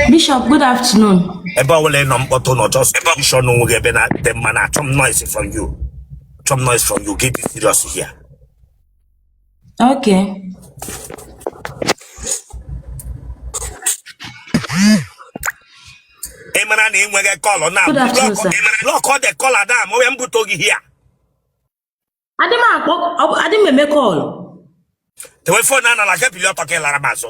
Bishop, good afternoon. Ebe ọbụla ị nọ mkpọtụ nọ just position onwe gị ebe na-adịte mma na achọ m noise from you. Achọ m noise from you. Get this serious here. Okay. ị mara na ị nweghị kọlọ na Good afternoon, sir. block all the caller da ma onye mbute gị here Adị m akpọ, ọ bụ- adị m eme call. dewe fon n'ala ka ị bili ọtọ ka ị lara m azụ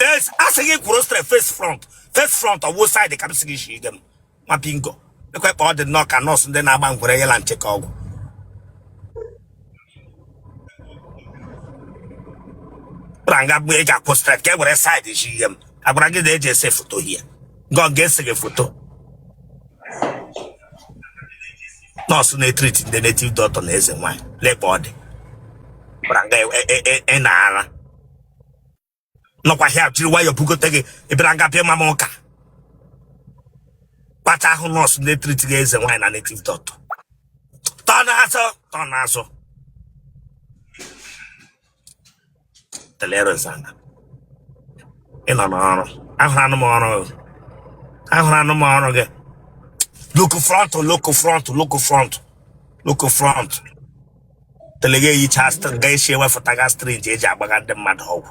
Yes, asị gị kwụrụ straight face front face front ọ wụ side ka m sị gị shi ige m ma bingo lekwa ka ọ dị nnọọ ka nọọsụ ndị na-agba ngwere yela ncheke ọgwụ bịara nga mgbe e ji akwụ straight ka e were side shi ige m a gwara gị na e ji ese foto here ngọ ga-ese gị foto nọọsụ na-etriti ndị native doctor na eze nwaanyị lekpa ọ dị bịara nga e- e- e- e na ara nọkwa here jiri nwayọọ bugote gị ị bịara nga bịa ama m ụka kpata ahụ nọọsụ na-etriti ndị eze nwaanyị na native doctor turn azụ turn azụ Telerus anya. Ị nọ n'ọrụ. Ahụrụ anụ m ọrụ. gị. Ahụrụ anụ m ọrụ gị. Look front, look front, look front, look front. Telega eyicha str- ga-esi ewefụtaga strinji e ji agbaga ndị mmadụ ọgwụ.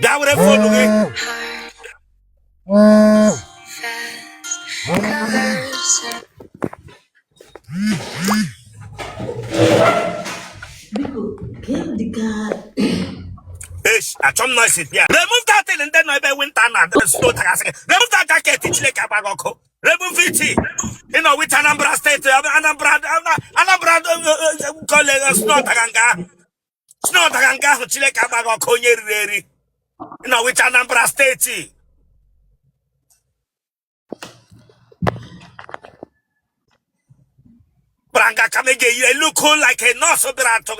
bịa were phone gị achọ m noise bịa remove that thing ndị nọ ebe winter na snow daga sị gị remove that jacket chineke agba gị ọkụ remove it ị nọ which Anambra steeti Anambra Anambra kọleji snow daga nga ahụ snow daga nga ahụ chineke agba gị ọkụ onye riri eri na which Anambra steeti bịara nga ka m eje you look like a nurse bịara achọ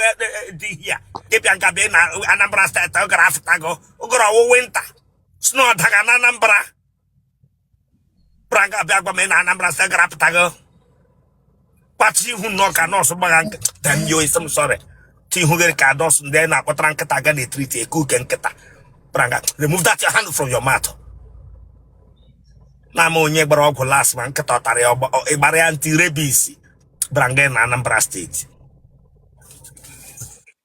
di here ị bịa nga bịa na Anambra steeti ụgụrụ afụtago ụgụrụ ọ wụ winter snow daga na Anambra bịara nga bịa gwa m ị na Anambra steeti ụgụrụ apụtago kpachi ihu nnọọ ka nọọsụ gbaga nkịta tam yo isi m sọrị ti ihu gị rị ka nọọsụ ndị anyị na-akpọtara nkịta ga na-etriti ekuke nkịta bịara nga remove that your hand from your mouth na ama onye gbara ọgwụ last ma nkịta ọ tara ya ọgba- ọ- ị gbara ya anti rabies bịara nga na Anambra steeti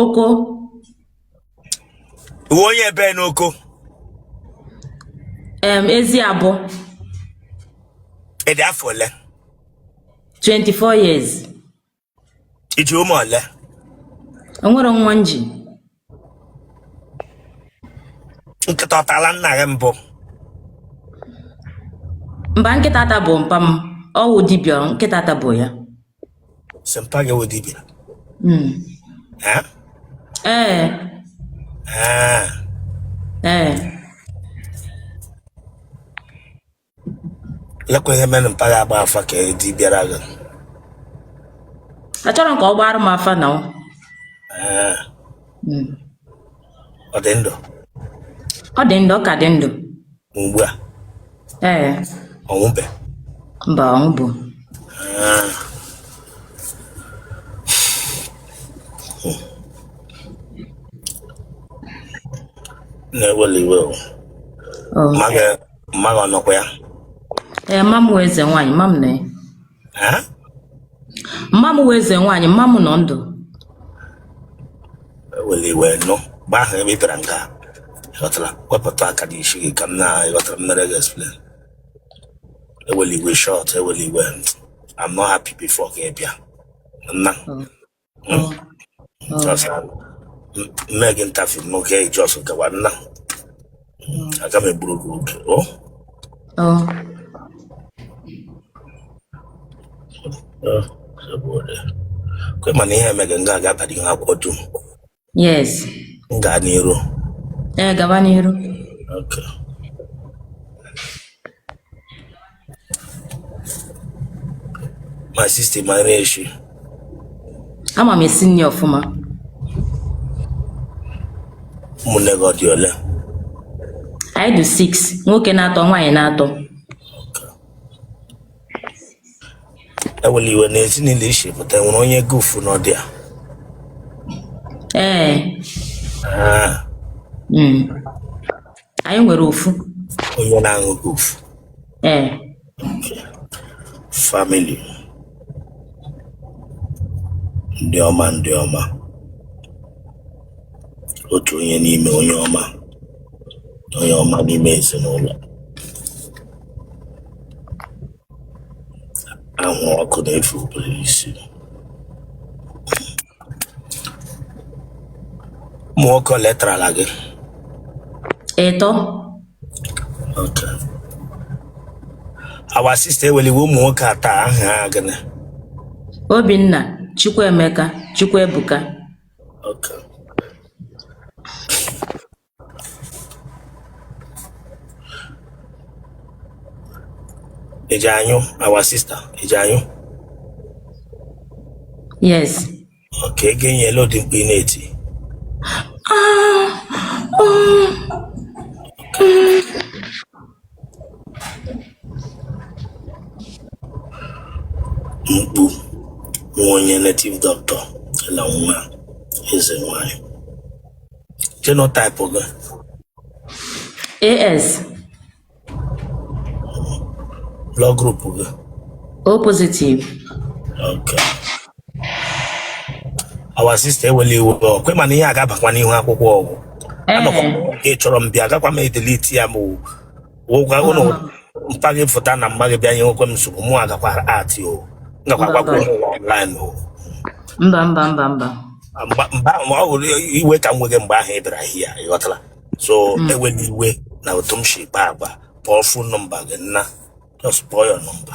oko ị wụ onye ebee n'oko em Eziabọ ị dị afọ ole 24 years i ji ụmụ ole enwere nwa m ji nkịta ọ tala nna gị mbụ mba nkịta atabụ mpa m ọ wụ dibịa nkịta atabụ ya sị mpa gị wụ dibịa Mm. Eh? ee Ah. ee lekwa ihe mere mpa gị agba afa ka dibịa ra gị achọrọ m ka ọ gbara m afa na ọ Ee, Mm. ọ dị ndụ ọ dị ndụ ọ ka dị ndụ ugbu a ee ọ nwụbe mba ọ nwụbụ Ee. nna eweli iwe o. Ọ, Ma ga- mma gị ọ nọkwa ya ee mma m wụ eze nwaanyị mma m nọ ya Eh? mma m wụ eze nwaanyị mma m nọ ndụ eweli iwe nụ mgbe ahụ ebe ị bịara nga a ị ghọtara wepụta aka dị ishi gị ka m na ị ghọtara m meere gị explain eweli iwe short eweli iwe I'm not happy before gị bịa nna Mm. Just na m- mee gị interview n'oge just gawa nna aga m egburu gị oge o Oh. kwe mana ihe emege nga ga-abara ihe akwụkwọ dum yes m gaa n'iru ee gaba n'iru Okay. my sister ị mara eshi ama m esi nri ọfụma ụmụnne gị ọ dị ole anyị dị 6 nwoke n'atọ nwaanyị n'atọ Eweli iwe n'ezinụlọ i shi pụta enwere onye gufu nọdị ya. ee Ah, mm. anyị nwere ofu onye na-aṅụ gufu. ee Family. Ndị ọma ndị ọma. Otu onye n'ime onye ọma. Onye ọma n'ime ezinụlọ. ahụ ọkụ na-efu obere isi ụmụ nwoke ole tarala gị ịtọ Okay. our sister ewela iwe ụmụ nwoke atọ ahụ aha gịnị Obinna Chukwuemeka Chukwuebuka Okay. ị ji anyụ our sister ị ji anyụ yes okay ị ga-anyụ ele ụdị mkpu ị na-eti Ah, oh, mkpu nwa onye native doctor la nwa eze nwanyị genotype gị AS, blood group gị O positive, okay our sister ewela iwe ọ kwa ị ma na ihe a ga-abakwa n'ihu akwụkwọ ọ wụ anọkwa m nke ị chọrọ m bịa agakwa m edelete ya ma ọ wụkwa ụlọ mpa gị fụta na mma gị bịa nyewekwa m nsogbu mụ agakwa ati o m gakwa gwakwa ụmụ ụwa online o mba mba mba mba mgba mgbe ahụ ọ wụ iwe ka m wega mgbe ahụ ị bịara here ị ghọtara so ewela iwe na otu m si kpa agwa kpọọ fon nọmba gị nna just kpọọ ya nọmba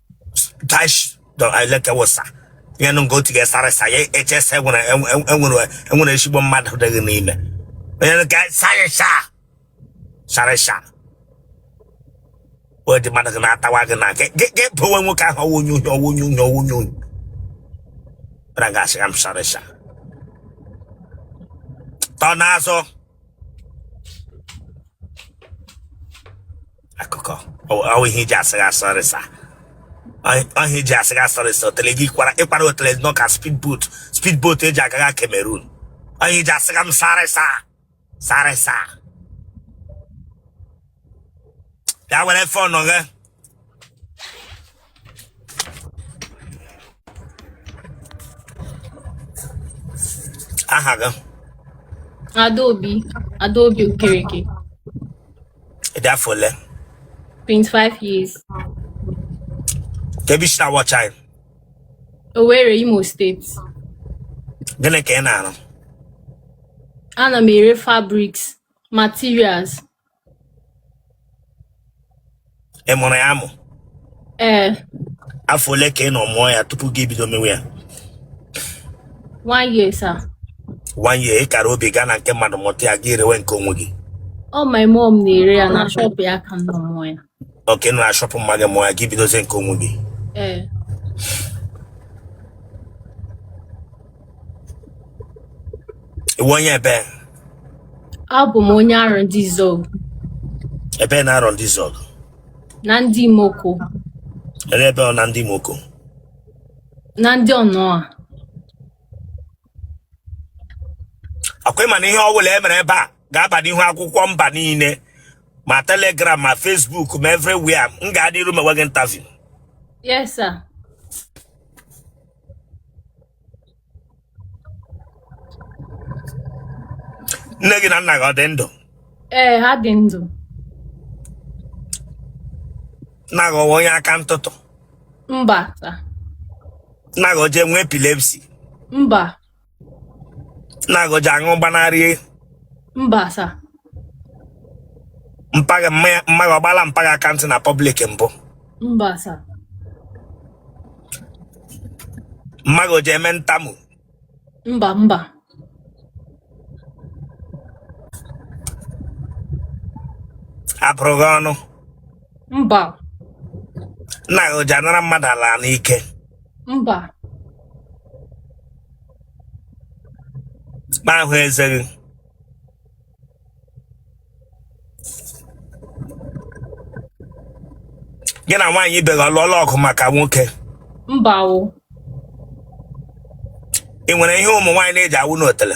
dash dọ eleke wụsa ihe nụ nke otu gị sorry sir ya echesa enwere enwere enwere ezigbo mmadụ adịghị n'ime onye nụ ka sorry sir sorry sir o dị mmadụ gị na-atawa gị na gị gị gị pụwe nwoke ahụ ọ wụ onye unyo ọ wụ onye unyo ọ wụ onye unyo bara gasị ya m sorry sir tọ n'azụ akụkọ ọ wụ ihe i ji asịga sorry sir ọ wụ ihe i ji asịga sorry sir otele gị kwara ị kwara otele nọ ka speed boat speed boat e ji agaga Cameroon ọ wụ ihe i ji asịga m sorry sir sorry sir ya were fon gị aha gị Adaobi Adaobi Okereke ị dị afọ ole 25 years kee ebe i si na-watch anyị Owerri Imo State gịnị ka ị na-arụ ana m ere fabrics materials ị mụrụ ya amụ ee afọ ole ka ị nọ mụọ ya tupu gị ebido mewe ya one year sir one year ị kara obi gaa na nke mmadụ mụta ya gị erewe nke onwe gị ọ my mom na-ere ya na shop ya ka m nọ mụọ ya okay na shop mma gị mụọ ya gị bidozie nke onwe gị ee ị wụ onye ebe abụ m onye arondizuogu ebe n'arondizuogu na ndị imoko ebe ọ na ndị imoko na ndị ọnụa akwa ị ma na ihe ọ bụla e mere ebe a ga-aba n'ihu akwụkwọ mba niile ma telegram ma facebook ma everywhere m ga-adị iru mewe gị interview yes sir nne gị na nna gị ọ dị ndụ ee ha dị ndụ nna gị ọ wụ onye aka ntụtụ mba sir nna gị o ji enwe epilepsy mba nna gị o ji aṅụ gbanarị mba sir mpa gị mma gị ọ gbala mpa gị account na public mbụ mba sir mma gị o ji eme ntamu mba mba a bụrụ gị ọnụ mba nna gị o ji anara mmadụ ala n'ike mba m ahụ eze gị gị na nwaanyị ibe gị ọ lụọla ọgụ maka nwoke mba o ị nwere ihe ụmụ nwaanyị na-eji awụ n'otele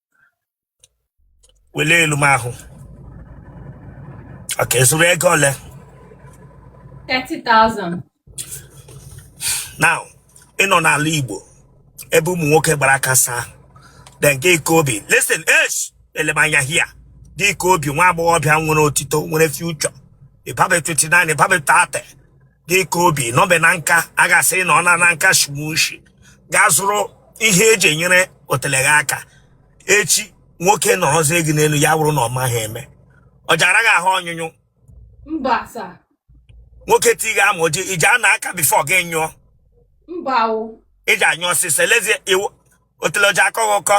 wele elu m ahụ okay ị zụrụ ego ole 30,000. now ị nọ n'ala igbo ebe ụmụ nwoke gbara aka saa then gị ka obi listen eh le m anya here gị ka obi nwa agbọghọbịa nwere otito nwere future ị babe 29 ị babe 30 gị ka obi nọbe na nka a ga-asị na ọ nọ na nka shimushi gaa zụrụ ihe eji enyere otele gị aka echi nwoke nọrọzie gị n'elu ya wụrụ na ọ maghị eme o ji ara gị ahụ ọnyụnyụ mba sir nwoke ti gị amụ o ji iji ana aka before gị nyụọ mba o i ji anyụ ọsịsọ elezie iwu otele o ji akọ gị ụkọ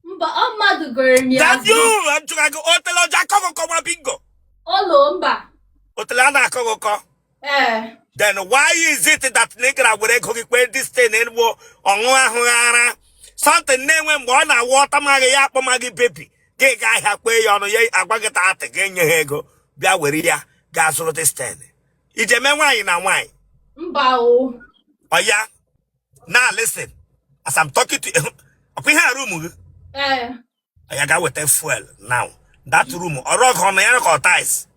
mba ọ mmadụ goro m ya That's you! A jụrụ gị otele o ji akọ gị ụkọ nwa bingo. olo mba Otele a na-akọ gị ụkọ. ee Then why is it that na ị gara were ego gị kwee this thing enugbo ọṅụ ahụ ara? Something na-enwe mgbe ọ na-awụ ọ tama gị ya akpọma gị baby. Gị ga ahịa kwee ya ọnụ ya agwa gị thirty gị enye ha ego bịa were ya gaa zụrụ this thing. I ji eme nwaanyị na nwaanyị. mba o Ọya now listen as I'm talking to you ọkwa ihe a room gị ee oya gaa weta fuel now that room ọ rug nọ ya ka ọ tiles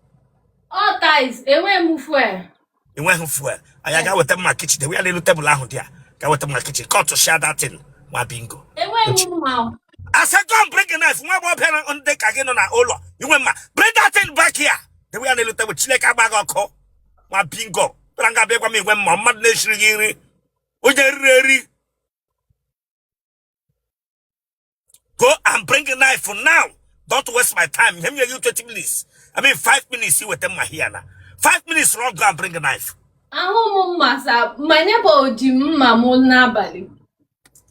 ọ tiles enweghị m fuel i nweghị fuel oya gaa weta mma kichin dewe ya n'elu tebụl ahụ dị ya ga weta mma kichin kọtụshia that thing ma bingo enweghị m mma o. I said go and bring a knife nwa agbọghọbịa dị ka gị nọ na ụlọ i nweghị mma bring that thing back here dewe ya n'elu tebụl chineke agba gị ọkụ ma bingo tara nga abịakwa m i nweghị mma mmadụ na-esiri gị nri onye eriri eri go and bring a knife for now don't waste my time ihe m nye gị 20 minutes i mean 5 minutes i weta mma here na 5 minutes run go and bring a knife ahụ m mma sa my neighbor ji mma m n'abalị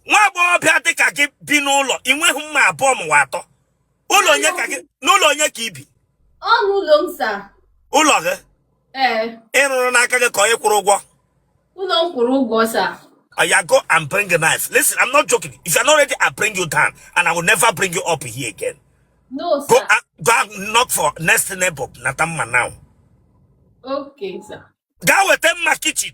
nwa agbọghọbịa dị ka gị bi n'ụlọ ị nweghị mma abụọ ma ọ wụ atọ ụlọ onye ka gị n'ụlọ onye ka i bi ọ n'ụlọ m sa ụlọ gị ee ị rụrụ n'aka gị ka onye kwụrụ ụgwọ ụlọ m kwụrụ ụgwọ sa Oya go and bring a knife. Listen, I'm not joking. If you're not ready, I'll bring you down. And I will never bring you up here again. no Go sa and, go and knock for next neighbor, nata mma now. okay sa gaa weta mma kichin.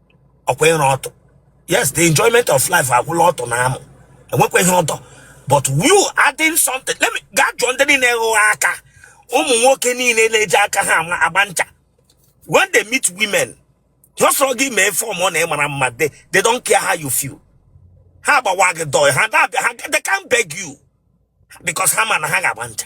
ọkwa ịra ọtụ yes the enjoyment of life agwụla ọtụ na amụ e nwekwa ihe ọdọ but you adding something let me gaa jụọ ndị niile ghụgha aka ụmụ nwoke niile na-eji aka ha ama- agba ncha when they meet women ha sọrọ gị mee fọm ọ na ị mara mma they, they don't care how you feel ha agbawa gị door ha na-abịa ha they can't beg you because ha ma na ha ga-agba ncha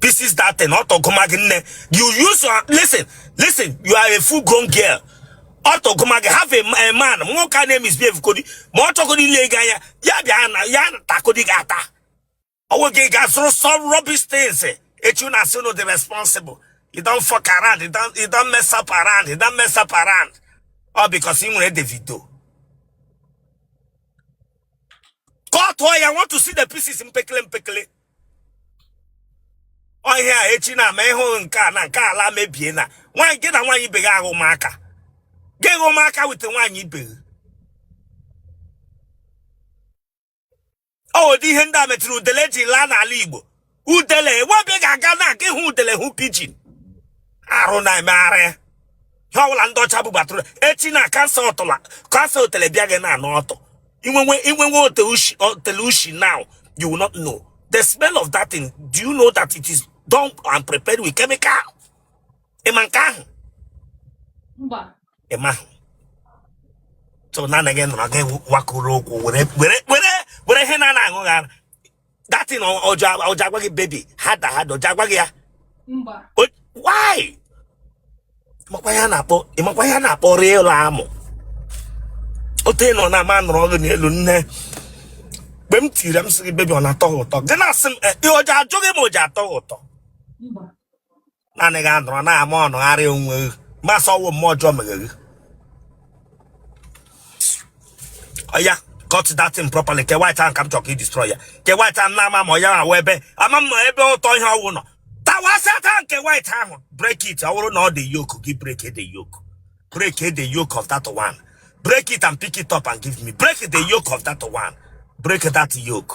pieces that thing ọtụ gụma gị nne you use your listen listen you are a full grown girl ọtụ gụma gị have a, a man nwoke a na-emisbehave kodi ma ọ chọgodi ile gị anya ya bịa na ya takodi gị ata ọ wụ gị gaa zụrụ some rubbish things echi a na-asị unu dị responsible you don fuck around you don you don mess up around you don mess up around all because ị nwere Davido kọtụọ ya I want to see the pieces mpekele mpekele ọ ihe a echi na-eme ị hụ nke a na nke ala mebie na nwaanyị gị na nwaanyị ibe gị aghụma aka gị ghụma aka weta nwaanyị ibe gị ọ ụdị ihe ndị a metụrụ udele ji laa n'ala igbo udele ebe ị ga-aga now ka ị hụ udele hụ pigeon arụ na-emegharị ihe ọbụla ndị ọcha bubatụrụ echi na cancer ọtụla cancer otele bịa gị na-anụ ọtụ inwenwe inwenwe otele ushi now you will not know the smell of that thing do you know that it is done and prepared with chemical ị ma nke ahụ ị maghị sọ naanị gị nọrọ gị wakụrụ ụkwụ were were were were ihe na-ana aṅụ gị ara that thing o ji agwa gị baby harder harder o ji agwa gị ya why makwa ihe a na-akpọ ị makwa ihe a na-akpọ real amụ otu ị nọ na man anọrọ gị n'elu nne mgbe m tiri m sị gị baby ọ na-atọ gị ụtọ gị na-asị m eh, o ji ajụ gị ma o ji atọ gị ụtọ naanị gị anọrọ na-ama ọnụgharị onwe gị m ga-asị ọ wụ mmụọ ọjọọ mere gị oya cut that thing properly ke white ahụ ka m chọrọ ka ị destroy ya ke white ahụ na-ama mma ọ ya wụ ebe ama m ebe ụtọ ihe ọwụ nọ tawasịa taa nke white ahụ break it ọ bụrụ na ọ dị yoke gị break the yoke break the yoke of that one break it and pick it up and give me break the yoke of that one break that yoke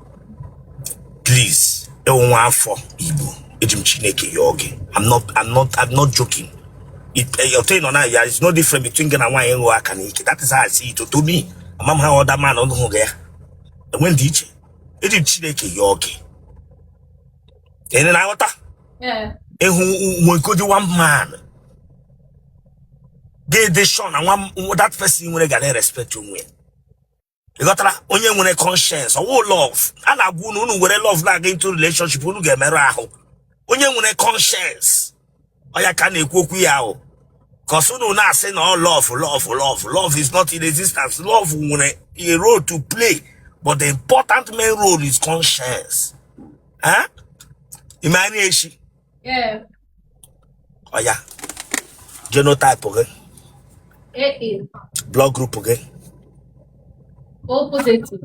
please ị wụ nwa afọ Igbo eji m Chineke yọọ gị i'm not i'm not i'm not joking otu ị nọ na ya is no different between gị na nwaanyị ịṅụ aka n'ike that is how i see it to me ama m how other man ọnụ hụ gị ya enwe ndịiche eji m Chineke yọọ gị ị na-aghọta ị hụ nwoke dị one man ga-adị sure na nwa that person nwere ga na-respect onwe ya ị ghọtara onye nwere conscience ọ wụ love a na-agwa unu unu were love na-aga into relationship unu ga-emerụ ahụ onye nwere conscience ọ ya ka a na-ekwu okwu ya ahụ cos unu na-asị na ọ love love love love is not in existence love nwere a role to play but the important main role is conscience eh? in marriage Yeah. oya genotype gị AA. blood group gị O positive.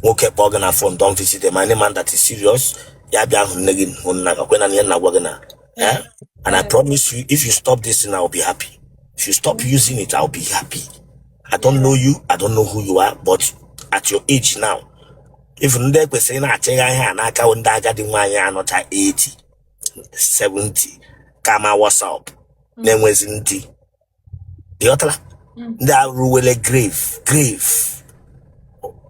nwoke kpọọ gị na phone don't visit him any man that is serious ya bịa hụ nne gị hụ nna gị kwena na ihe m na-agwa gị na eh? and i promise you if you stop this thing i will be happy if you stop using it i will be happy i don't know you i don't know who you are but at your age now even ndị ekwesịrị na-achịgha ihe a n'aka bụ ndị agadi nwaanyị anọcha 80 70 kama wasap na-enwezi ndị ị ghọtara Mm. ndị eruwele grave grave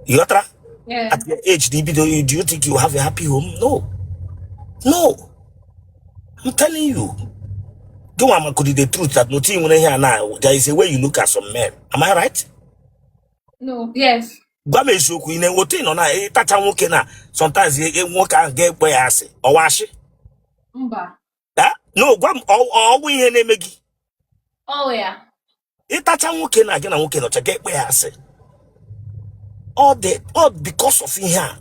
ị ghọtara Yeah. at your age do you, do you do you think you have a happy home no no i'm telling you gị nwa makwadị the truth that na otu i nwere ihe a na there is a way you look at some men am i right No. Yes. gwa m eziokwu ị na-enwe otu ị nọ na ịtacha nwoke na sometimes e- e- nwoke ahụ ga-akpọ gị asị ọ wụ asị mba Eh? no gwa m ọ- ọ- ọ wụ ihe na-eme gị ọ wụ ya ịtacha nwoke na gị na nwoke nọcha ga-akpọ gị asị ọ dị ọ because of ihe a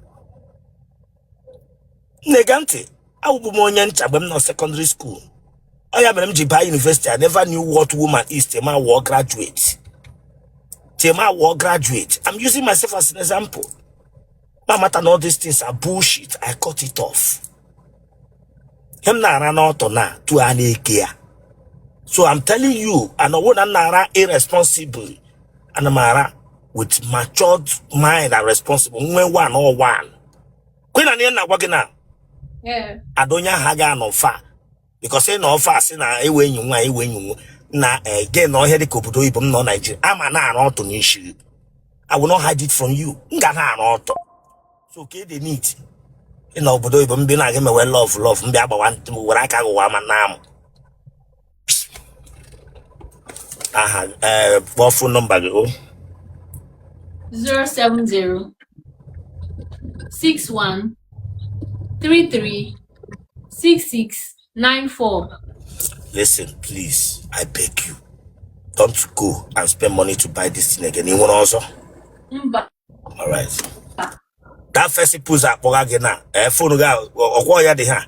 na-ege ntị awụbu m onye ncha mgbe m nọ secondary school ọ ya mere m ji baa university I never knew what woman is till m awụọ graduate I'm using myself as an example m amata na all these things are bullshit I cut it off ihe m na-ara n'ọtọ na tu a na-eke ya so I'm telling you and ọ wụ na m na-ara irresponsible ana m ara with matured mind and responsible nwe one or one kwe na ihe m na-agwa gị na Ee. ada onye ahụ agaghị anọ far because ị nọ far sị na ewe enyi nwa ewe enyi nwa na ege na ọhịa dịka obodo oyibo m nọ Nigeria aga m na-ara ọtụ n'isi I will not hide it from you m ga na-ara ọtụ so ka ede nit ị nọ obodo oyibo m bi na-aga emewe love love m bịa gbawa ntị m were aka gụwa ma na amụ aha ee kpọọ phone number gị o 070 61 33 66 94 listen please i beg you don't go and spend money to buy this thing again ị nwere ọzọ mba all right that first pụzụ akpọga gị na ee phone gị ahụ, ọ- ọkwọ ya dị ha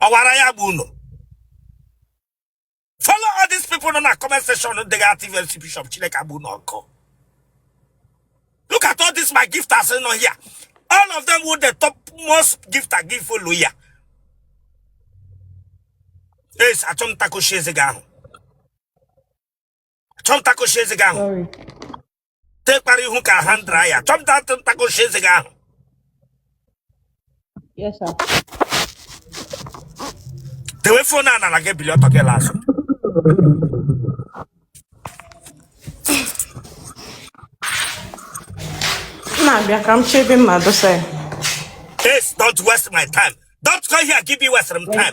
ọwara ya bụ unu follow all these people nọ na comment section dịghị active mcp shop chineke agbaa unu ọkụ look at all these my gifters nọ here all of them wụ the top most gifter give follow ya yes achọ m takoshi eze gị ahụ chọ m takoshi eze gị ahụ tekpara ihu ka ha ndra ya achọ m takoshi eze gị ahụ dewe phone a n'ala gị bili ọtọ gị laa azụ na-abịa ka m chebe mma dosa ya Yes, don't waste my time. Don't come here, give me waste some time.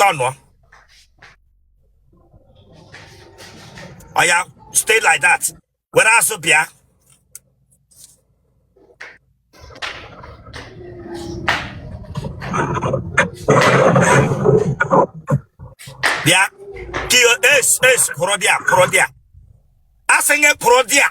turnụọ oya stay like that were azụ bịa bịa kiyo es es kwụrụ there kwụrụ there asị m gị kwụrụ there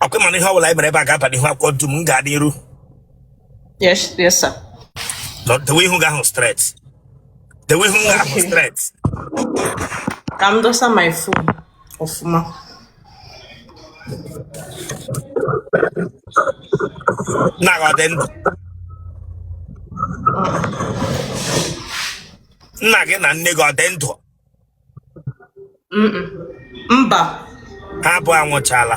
ọ kwa ị ma na ihe ọbụla anyị mere ebe a ga-aba n'ihu akwụkwọ ntu m m ga-adị iru Yes, yes, sir. Nọ- dewe ihu gị ahụ straight dewe ihu gị ahụ Okay. straight Ka m dosa my phone. ọfụma nna gị ọ dị ndụ nna gị na nne gị ọ dị ndụ Mm-mm. mba ha abụọ anwụchala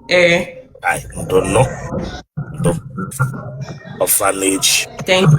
ee Ai, ndo nnọọ ndo orphanage thank you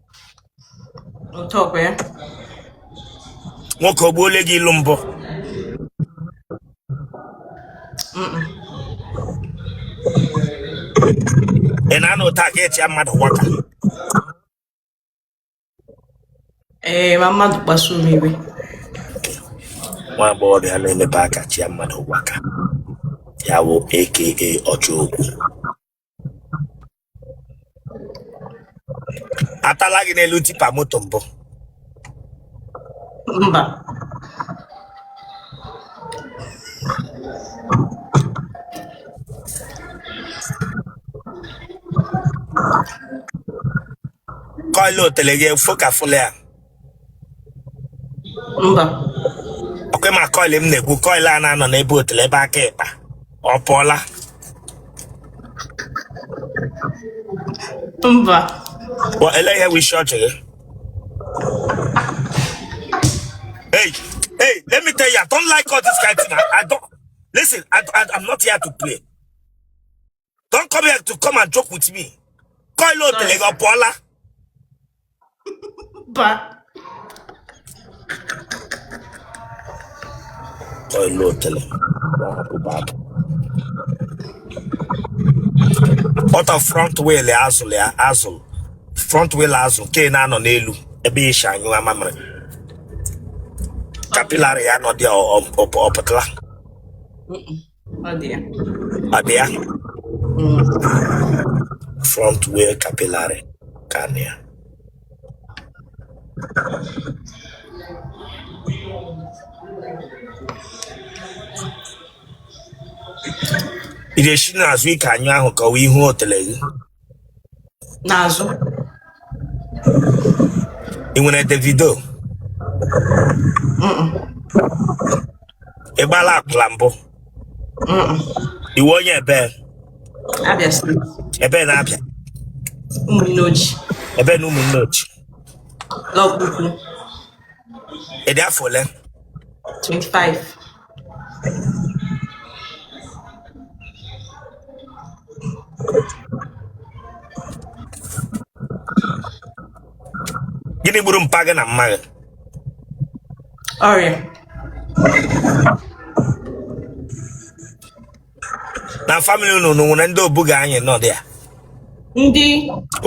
nwoke ọ gbuole gị ilu mbụ ị na-anụ ụta ka echi mmadụ waka ee ma mmadụ kpasuo m iwe nwa agbọghọ bịa na-emepe aka chịa mmadụ waka ya bụ aka ọchọ okwu atala gị n'elu tipa moto mbụ mba coil otele gị ọ fokafụla ya mba okay ị ma coil m na-ekwu coil a na-anọ n'ebe otele ebe aka ịkpa ọ pụọla mba Wa ele ihe wụ ishi ọchị gị hey hey let me tell you i don't like all this kind of thing i, I don't listen I, I, i'm not here to play don't come here to come and joke with me coil otele gị ọ pụọla Mba. coil otele ọta front wheel axle ya axle front wheel azụ nke na-anọ n'elu ebe i shi anyụ amamịrị capillary ya nọ dị ọ pụtala Ọ dị ya. Ọ dị ya. Mm. Front wheel capillary ka dị ya. Ị ga-esi n'azụ ike anyụ ahụ ka ọ wụ ihu otele gị. n'azụ ị nwere davido ị gbala akwụla mbụ ị wụ onye ebe Abịa state ebe n'Abịa Ụmụnneochi ebe n'Ụmụnneochi Lọkpaukwu ị dị afọ ole 25 gịnị gburu mpa gị na mma gị ọrịa na family unu unu nwere ndị obuga anyị nọ dị ya ndị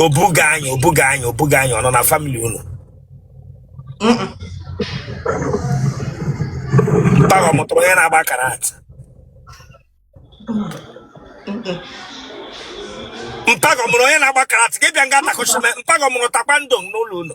obuga anyị obuga anyị obuga anyị ọ nọ na family unu mpa gị ọ mụtara onye na-agba karate mpa gị ọ mụrụ onye na-agba karate gị bịa nga takụchime mpa gị ọ mụrụ taekwondo n'ụlọ unu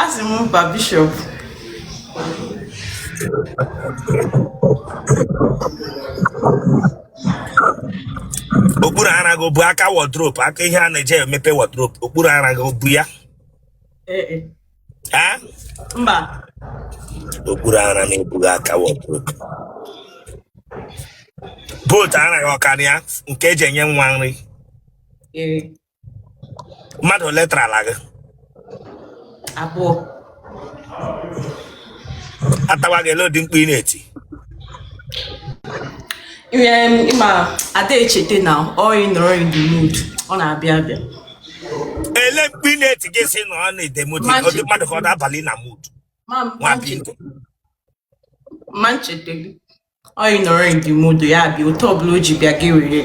asị m mba Bishop okpuru ara gị bụ aka wardrobe aka ihe a na-eji emepe wardrobe okpuru ara gị bụ ya Ee, e. Ha? mba Okpuru ara m abụghị aka wardrobe. But ara gị ọkara ya nke eji enye nwa nri. ee Mmadụ ole tara ala gị? abụọ A tawa gị ele ụdị mkpu ị na-eti. Em, ịma ada echete na ọ ị nọrọ in the mood ọ na-abịa abịa ele mkpu ị na-eti gị sị na ọ nọ in the mood ọ dị mmadụ ka ọ na-abalị na mood nwa pinto ma ncheteli ọ ị nọrọ in the mood ya abịa otu ọbụla o ji bịa gị were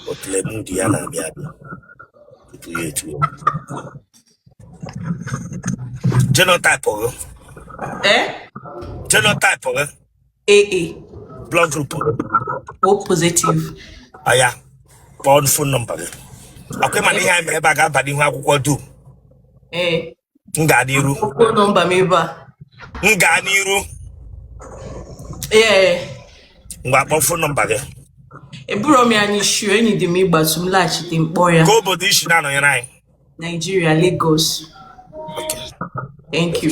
otule mood ya na-abịa abịa tupu ya etu genotype gị ee genotype gị AA. Blood group. O positive. Aya, kpọọ phone number gị. Akwa ịma na ihe anyị mere ebe a ga-aba n'ihu akwụkwọ dum. Ee. Eh. M gaa n'iru. Phone number m ebe a. M gaa n'iru. Ee. Ngwa kpọọ phone number gị. Eburo m ya n'isi enyi dị m ịgbatu m laghachite mkpọ ya. Kee obodo i si na-anọnyere anyị. Nigeria, Lagos. Okay. Thank you.